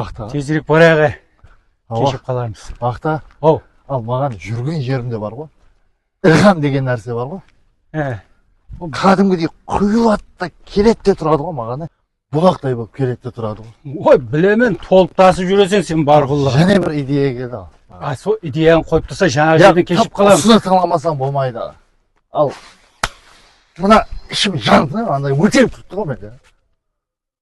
Aqta. Tezirek barayıq ay. Keshirip qalarmız. Aqta. Ow. Al maǵan júrgen jerimde bar ǵoy. Ilham degen nárse bar ǵoy. He. Ol kádimgidey quyıladı da keledi de turadı ǵoy maǵan ay. Bulaqtay bolıp keledi de turadı ǵoy. Oy, bilemen, tolıp tasıp júreseń sen barqulla. Jáne bir ideya keldi al. A, sol ideyanı qoyıp tursa jańaǵı jerden keshirip qalamız. Usını tıńlamasań bolmaydı. Al. Mına ishim jandı, anday óterip turıptı ǵoy mende.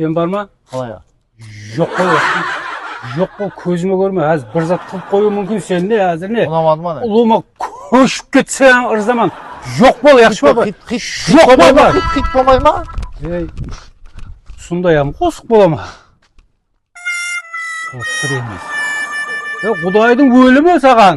Sen bar ma? Qalay? Joq bol, joq bol, kózime kórme, házir bir zat qılıp qoyıwı múmkin sen ne házir ne? Unamadı ma ne? Ulıwma kóship ketse ırzaman. Joq bol, yaqshı ma? Joq bol, xit bolmay ma? Ey, usınday ham qosıq bola ma? Qosıq emes. Qudaydıń ólimi saǵan.